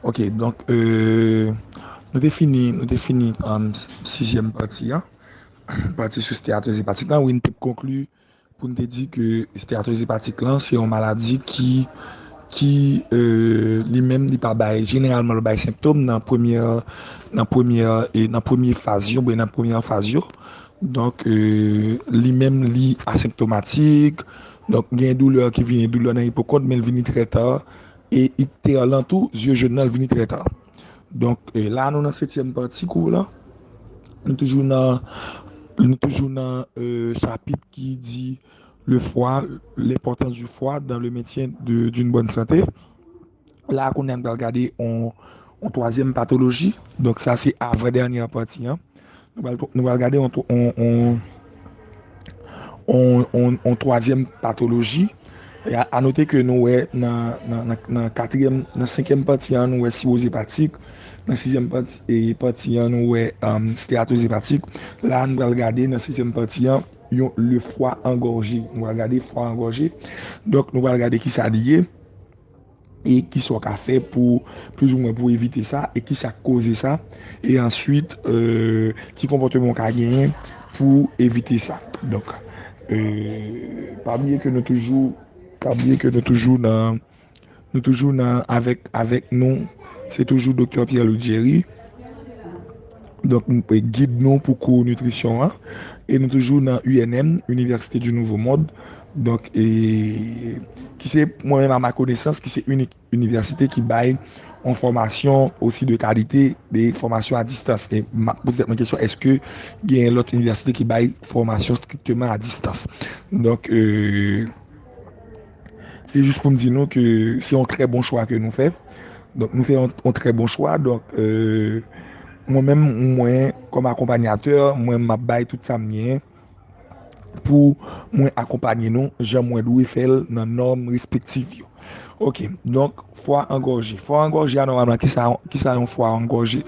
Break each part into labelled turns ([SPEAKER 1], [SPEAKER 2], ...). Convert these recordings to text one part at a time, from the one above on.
[SPEAKER 1] Ok donk euh nou te fini nou te fini 6 ème pati an pati sou steatozi pati tan wi nou te konkli Pou n te di ke esteatòz epatik lan se yon maladi ki ki li menm li pa bay jeneralman li bay senptom nan premyè nan premyè nan premye faz yo oubyen nan premyè an faz yo donk li menm li asenptomatik donk gen doulè ki vini doulè nan ipokòt men li vini trè ta e ikte a lan tou zye jòn nan li vini trè ta. Donk la nou nan setyèm pati kou lan, nou toujou nan nou toujou nan chapit ki di le fwa, lenpòtans di fwa dan le mentyen doun bòn sante. La kounye an nou pral gade yon twazyèm patoloji, donk sa se avan dènyè pati an. Nou pral gade yon twazyèm patoloji. A note ke nou wè nan katriyèm, nan senkyèm pati an nou wè siwoz epatik, nan sizyèm pati an nou wè steratoz epatik. La a nou pral gade nan setyèm pati an yon le fwa angòje. Nou pral gade fwa angòje. Donk nou pral gade ki sa li ye. E kisa w ka fè pou plizoumwen pou evite sa e kisa k koze sa e answit ki konpòteman w ka genyen pou evite sa. Donk pa bliye ke nou toujou pa bliye ke nou toujou nan nou toujou nan avèk avèk nou se toujou Doktè Pierre Louis Jerry donk nou pe gid nou pou kou nitrisyon an e nou toujou nan UNM, Université du Nouveau Monde. Donk, ki se mwen menm a ma konesans ki se inik inivèsite ki bay yon fòmasyon osi de kalite de fòmasyon a distans. E m ap poze tèt mwen kesyon eske gen lòt inivèsite ki bay fòmasyon strikteman a distans. Donk, se jis pou m di nou ke se yon trè bon chwa ke nou fè. Donk, nou fè yon trè bon chwa. Donk, mwen menm mwen kòm akonpanyatè, mwen m ap bay tout sa m gen. pou mwen akonpanye nou jan mwen dwe fè l nan nòm respektiv yo. Ok, donk fwa an gòje. Fwa an gòje a nòmalman ki sa yon fwa an gòje?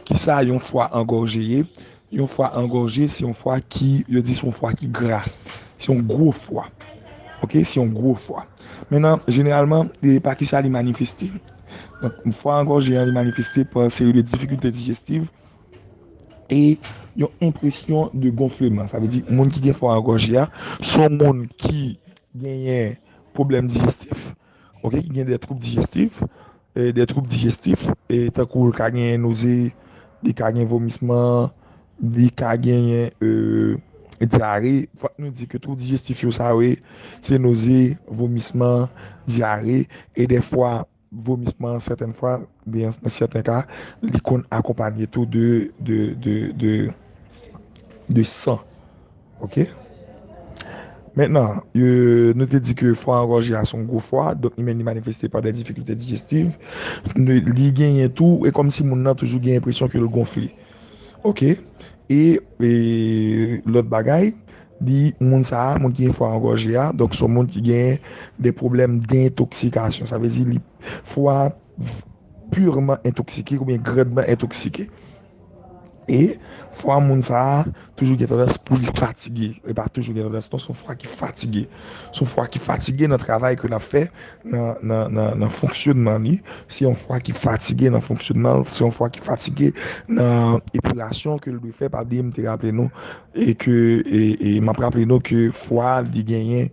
[SPEAKER 1] Ki sa yon fwa an gòje ye? Yon fwa an gòje se yon fwa ki, yo di se yon fwa ki gra. Se yon gwo fwa. Ok, se yon gwo fwa. Menan, jeneralman, e pa ki sa li manifeste? Donk, fwa an gòje an li manifeste pa seri de difikilte dijestiv. e yon enpresyon de gonfleman. Sa vle di moun ki gen fwa angòje a, se yon moun ki genyen pwoblèm dijestif, ok, ki gen de twoub dijestif, de twoub dijestif, e tankou l ka genyen noze, li ka gen vomisman, li ka genyen dyare. Fòk nou di ke twoub dijestif yo sa yo ye, se noze, vomisman, dyare, e de fwa Vomisman, sèten fwa, oubyen nan sèten ka, li konn akonpanye tou de san. Ok. Mentnan, nou te di ke fwa angòje a son gwo fwa, donk li menm li manifeste pa de difikilte dijestiv. Li genyen tou, e kòm si moun nan toujou gen enpresyon ke l gonfle. Ok e lòt bagay li moun sa a moun ki gen fwa angòje a donk son moun ki gen de pwoblèm dentoksikasyon sa vle di li fwa pirman entoksike oubyen grandman entoksike e fwa moun sa a Toujou gen tandans pou li fatige. E pa toujou gen tandans non, son fwa ki fatige. Son fwa ki fatige nan travay ke l ap fè, nan fonksyonman li. Se yon fwa ki fatige nan fonksyonman l, se yon fwa ki fatige nan epilasyon ke l dwe fè. Pa bliye m te raple nou, e ke, e m ap raple nou ke fwa li genyen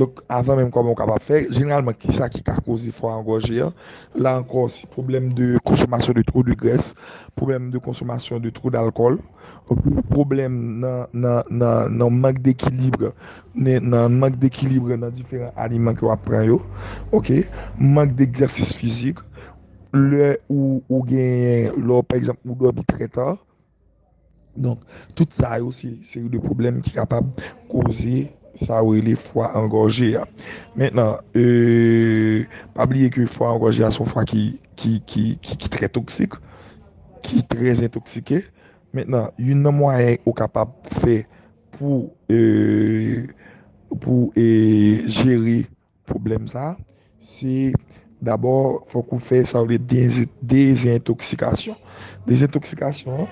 [SPEAKER 1] Donk, avan menm kòman ou kapab fè, jeneralman kisa ki ka koze fwa an gòje an? La ankò se pwoblèm de konsomasyon de two de grès, pwoblèm de konsomasyon de two dalkòl, pwoblèm nan nan nan nan mank dekilibre ne nan mank dekilibre nan diferan aliman ke wap pran yo ok mank degzèsis fizik lè ou ou genyen lè w pa egzanp ou dòmi trè ta. Donk, tout sa yo se seri de pwoblèm ki kapab koze sa yo rele fwa angòje a. Mentnan, pa bliye ke fwa angòje a se yon fwa ki trè toksik, ki trè entoksike. Mentnan, youn nan mwayen ou kapab fè pou jere. Pwoblèm sa a, se dabò fòk ou fè sa yo rele dezentoksikasyon. Dezentoksikasyon an,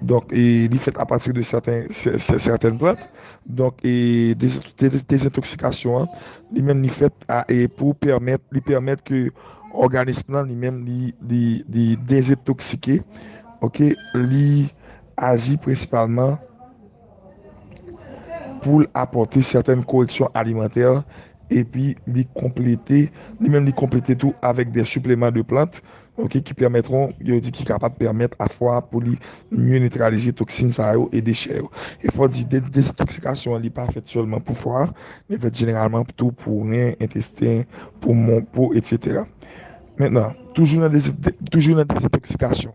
[SPEAKER 1] donk li fèt apati de sèten plant. Donk dezentoksikasyon an, li menm li fèt pou pèmèt, li pèmèt ke òganis lan li menm li dezetoksike, ok, li aji prensipalman. pou l apòte sètèn koreksyon alimantè epi li konplete li menm li konplete tou avèk de sipleman de plant ok ki pèmètron yo di ki kapab pèmèt a fwa pou li mye nitralize toksin sa yo e dechè yo e fò di de dezentoksikasyon an li pa fèt sèlman pou fwa li fèt jeneralman tou pou ren entesten poumon po etsetera mentenan toujou nan dezentoksikasyon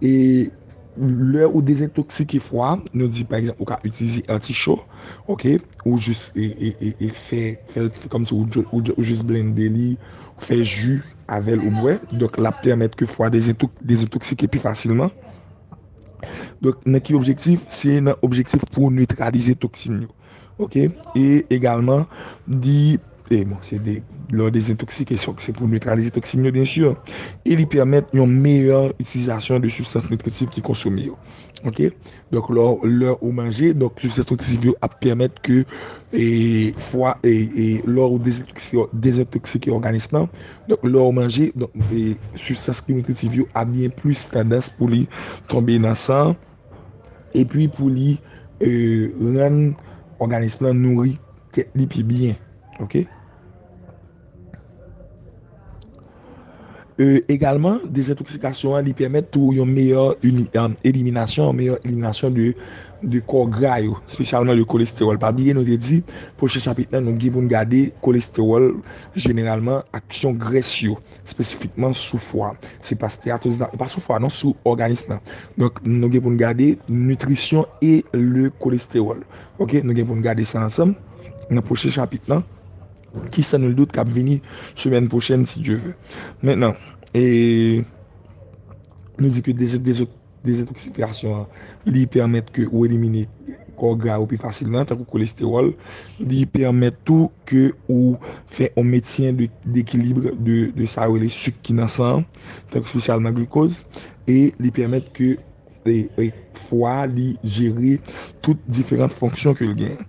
[SPEAKER 1] E lè ou dezentoksike fwa, nou di pa egzanp ou ka itilize anticho, ok, ou jis e fè fèl kòm si ou jis blende li, fè ji avèl ou bwè, donk lap pèmèt ke fwa dezentoksike pi fasilman. Donk nan ki objektif? Se nan objektif pou netralize toksin yo. Ok e egalman li e bon se de lò dezentoksike se ok se pou netralize toksin yo byen si e li pèmèt yon meyè itilizasyon de sibstans nitritif ki konsome yo ok donk lò lè ou manje donk sibstans nitritif yo ap pèmèt ke e fwa e e lò ou dezentoksike dezentoksike òganis lan donk lè ou manje donk e sibstans nitritif yo ap gen plis tandans pou li tonbe nan san an. epi pou li rann òganis lan nouri tèt li pi byen. Egalman, dezentoksikasyon an li pèmèt tou yon meyè eliminasyon, yon meyè eliminasyon de kò gra yo, espesyalman de kolestewòl. Pa bliye nou te di, pwochen chapit nan nou gen pou n gade kolestewòl jeneralman ak kesyon grès yo. Spesifikman sou fwa. Se pa steatosis la, e pa sou fwa non, sou òganis la. Donk, nou gen pou nou gade nitrisyon e le kolestewòl. Ok, nou gen pou nou gade sa ansanm nan pwochen chapit lan ki san nul dout kap vini semèn pwochèn si Dye ve. Mentnan, e nou di ke de zot, de zot. Dezintoksifikasyon an, li pèmèt ke ou elimine kò gra yo pi fasilman, tankou kolestewòl. Li pèmèt tou ke ou fè yon mentyen dekilibre de sa yo rele suk ki nan san, tankou spesyalman glikoz. E li pèmèt ke fwa li jere tout diferant fonksyon ke li genyen.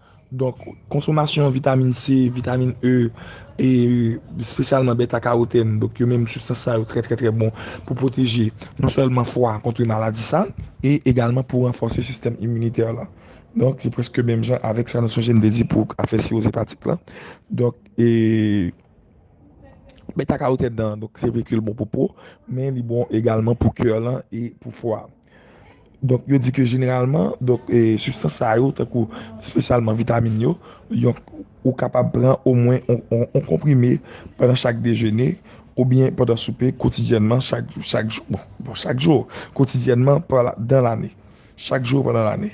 [SPEAKER 1] Donk, konsomasyon vitamin C, vitamin E, e espesyalman beta karotèn, donk yo menm sibstans sa yo trè trè trè bon pou pwoteje non sèlman fwa a kontre maladi sa, e egalman pou ranfòse sistèm iminitè la. Donk, se prèske menm jan avèk sa nou sonje m te di pou afè siwoz epatik la. Donk, e beta karotèn nan, donk se vre ke l bon pou po, men li bon egalman pou kè lan e pou fwa a. Donk yo di ke jeneralman, donk substans sa yo, tankou spesyalman vitamin yo, yon ou kapab pran o mwen yon konprime pandan chak dejene ou byen pandan soupe kotidyènman chak jou, chak jou, bon chak jou, kotidyènman pandan lane, chak jou pandan lane.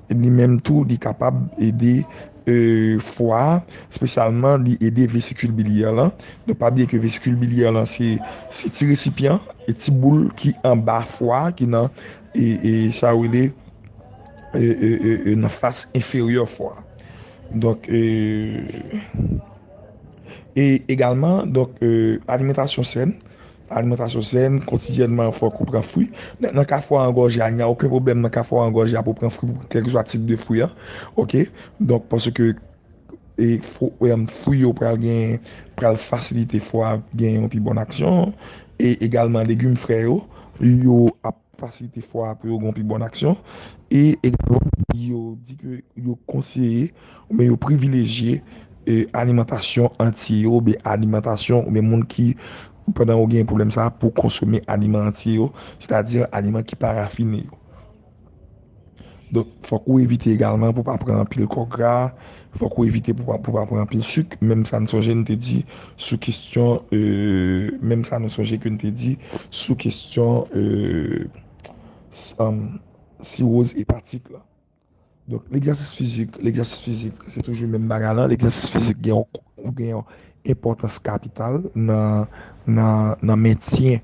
[SPEAKER 1] Li menm tou li kapab ede fwa a, spesyalman li ede vesikil bilyè lan. Nou pa bliye ke vesikil bilyè lan se ti resipyan, ti boul ki anba fwa a, ki nan sa yo rele nan fas enferyè fwa a. Donk egalman donk alimentasyon sèn Alimantasyon sèn, Kotidyènman fòk ou pran fwi. Nan ka fwa an gòje a, nya oken pwoblèm nan ka fwa an gòje a pou pran fwi kèlkeswa tip de fwi an. Ok, donk paske fwi yo pral gen pral fasilite fwa gen yon pi bon aksyon. E egalman legim frè yo, yo ap. fasilite fwa a pou yo gen yon pi bon aksyon e egalman yo di ke yo konseye oubyen yo privilejye alimantasyon antye yo oubyen alimantasyon oubyen moun ki pandan yo gen pwoblèm sa pou konsome aliman antye yo sètadi aliman ki pa rafine yo. Donk, fòk ou evite egalman pou pa pran anpil kò gra, fòk ou evite pou pa pou pa pran anpil suk, menm sa n sonje n te di sou kestyon menm sa nou sonje ke n te di sou kestyon siwoz epatik la. Donk, legzèsis fizik, legzèsis fizik se toujou menm bagay la, legzèsis fizik gen yon gen yon enpòtans kapital nan nan nan mentyen.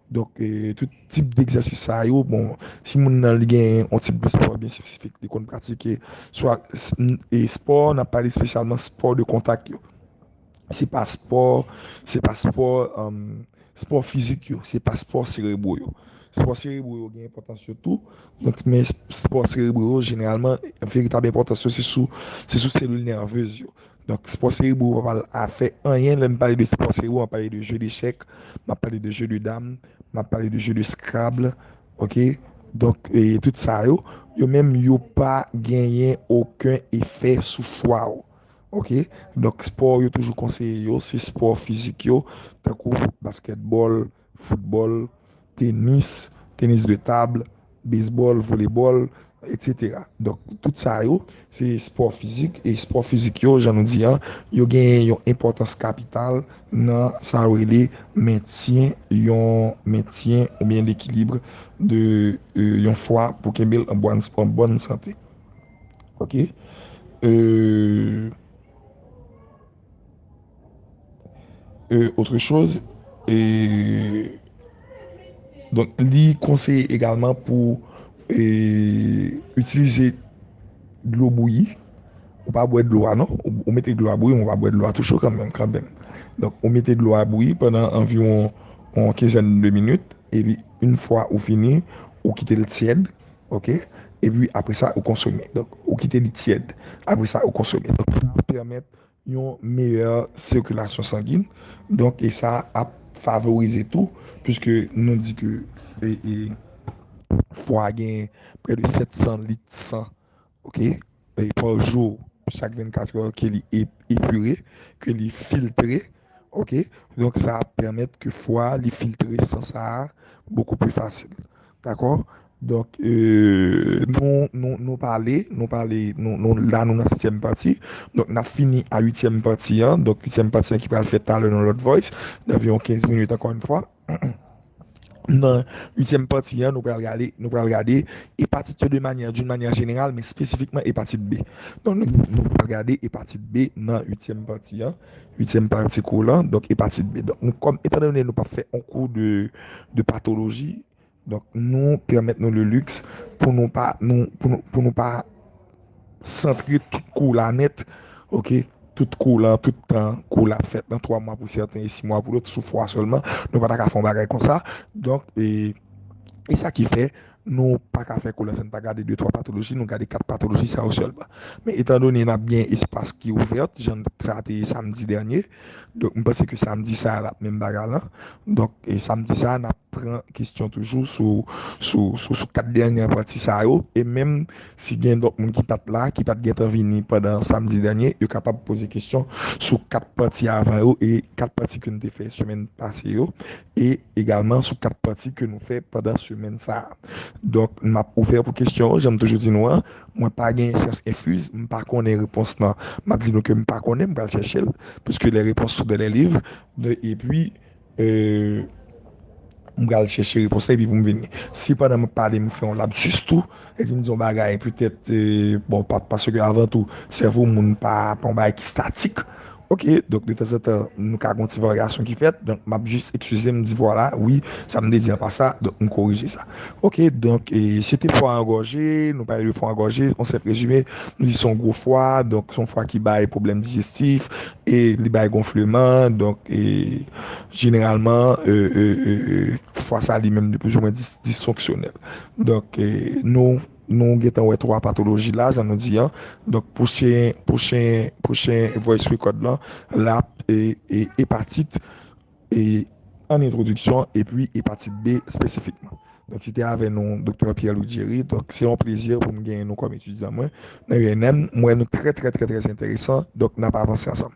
[SPEAKER 1] Donk tout tip degzèsis sa yo, bon, si moun nan li gen yon tip de spò byen espesifik li konn pratike, swa e spò, n ap pale espesyalman spò de kontak yo. Se pa spò, se pa spò, spò fizik yo, se pa spò serebro yo. Spò serebro yo gen enpòtans yo tou, donk men spò serebro yo jeneralman veritab enpòtans yo se sou, se sou selil nèvez yo. Donk spò serebro pa pral afè anyen lè m pale de spò serebro map pale de jeu dechèk map pale de jeu de dam map pale de jeu de scrabble ok donk tout sa yo yo menm yo pa genyen oken efè sou fwa ou ok donk spò yo toujou konseye yo se spò fizik yo tankou baskètbòl foutbòl, tenis, tenis de tab, bezbòl, volebòl, eksetera. Donk, tout sa yo, se espò fizik, e espò fizik yo, jan nou di an, yo genyen yon enpòtans kapital nan sa yo rele mentyen yon mentyen oubyen lekilibre de yon fwa pou kenbe l an bòn sante. Ok. Euh. E otre choz, e donk li konseye egalman pou e itilize dlo bouyi, ou pa bwè dlo a non, ou mete dlo a bouyi men ou pa bwè dlo a tou cho kanmenm kanmenm. Donk ou mete dlo a bouyi pandan anviwon yon kenzèn de minit epi yn fwa ou fini ou kite l tyèd. Ok e pi apre sa ou konsome donk ou kite li tyèd apre sa ou konsome donk sa ap pèmèt yon meyè sikilasyon sangin donk e sa ap favorize tou piske nou di ke fwa gen prè de 700 lit san Ok e pa jou chak 24 heures ke li epure ke li filtre ok donk sa ap pèmèt ke fwa li filtre san sa bokou pi fasil dakò donk euh nou nou nou pale nou pale nou nou la nou nan setyèm pati donk nap fini a uityèm pati an donk uityèm pati an ki pral fèt talè nan lòt voice nan viwon 15 minit ankò yn fwa. Nan uityèm pati an, nou pral gade, nou pral gade epatit yo de manyè, d'une manière générale, men spesifikman epatit B. Donk nou pral gade epatit B nan uityèm pati an, uityèm pati kou lan, donk epatit B. Donk nou kòm, etan done nou pap fè yon kou de patoloji, Donk nou pèmèt nou le lux pou nou pa pou nou pa santre tout kou la nèt ok tout kou la tout tan kou la fèt nan 3 mwa pou sèten e 6 mwa pou lòt sou fwa sèlman nou pa ta ka fè yon bagay konsa donk e e sa ki fè nou pa ka fè kou la san nou pa gade 2 3 patoloji nou gade 4 patoloji sa yo sèlman men etan done n ap gen espas ki ouvèt jan sa te ye samdi dènye Donk m panse ke samdi sa a l ap menm bagay lan. Donk samdi sa a n ap pran kesyon toujou sou kat dènye pati sa yo. E menm si gen lòt moun ki pa t la, ki pa t gen tan vini pandan samdi dènye, yo kapab poze kesyon sou kat pati avan yo e kat pati ke nou te fè semèn pase yo. E egalman sou kat pati ke nou fè pandan semèn sa a. Donk m ap ouvè pou kesyon, jan m toujou di nou an. Mwen pa gen syans enfuz, m pa konnen repons lan. M ap di nou ke m pa konnen, m pral chèche l, puiske les reponses sont dans les livres, epi m pral chèche repons lan epi pou m vini. Si pandan m ap pale m fè yon lapsus tou, e si m di yon bagay petèt, bon, paske avan tou, sèvo moun pa yon bagay ki statik. Ok, donk de tanzantan nou ka gon ti varyasyon ki fèt, donk m ap jis ekskize m di vwala, wi, sa m te di an pa sa, donk m korije sa. Ok, donk se te fwa an gòje, nou pale de fwa an gòje, an senp rezime, nou di se yon gwo fwa, donk se yon fwa ki bay pwoblèm dijestif, e li bay gonfleman, donk e jeneralman fwa sa li menm li plis ou mwen disfonksyonèl. Donk nou. Nou gentan wè 3 patoloji la jan nou di an. Donk pou chen, pou chen, pou chen voice record lan, lap e epatit e an entwodiksyon epi epatit B espesifikman. Donk se te avè nou Doktè Pierre Louis Jerry. Donk se yon plezi pou m genyen nou kòm etidyan mwen nan UNM. M wè nou trè trè trè trè enteresan. Donk nap avanse ansanm.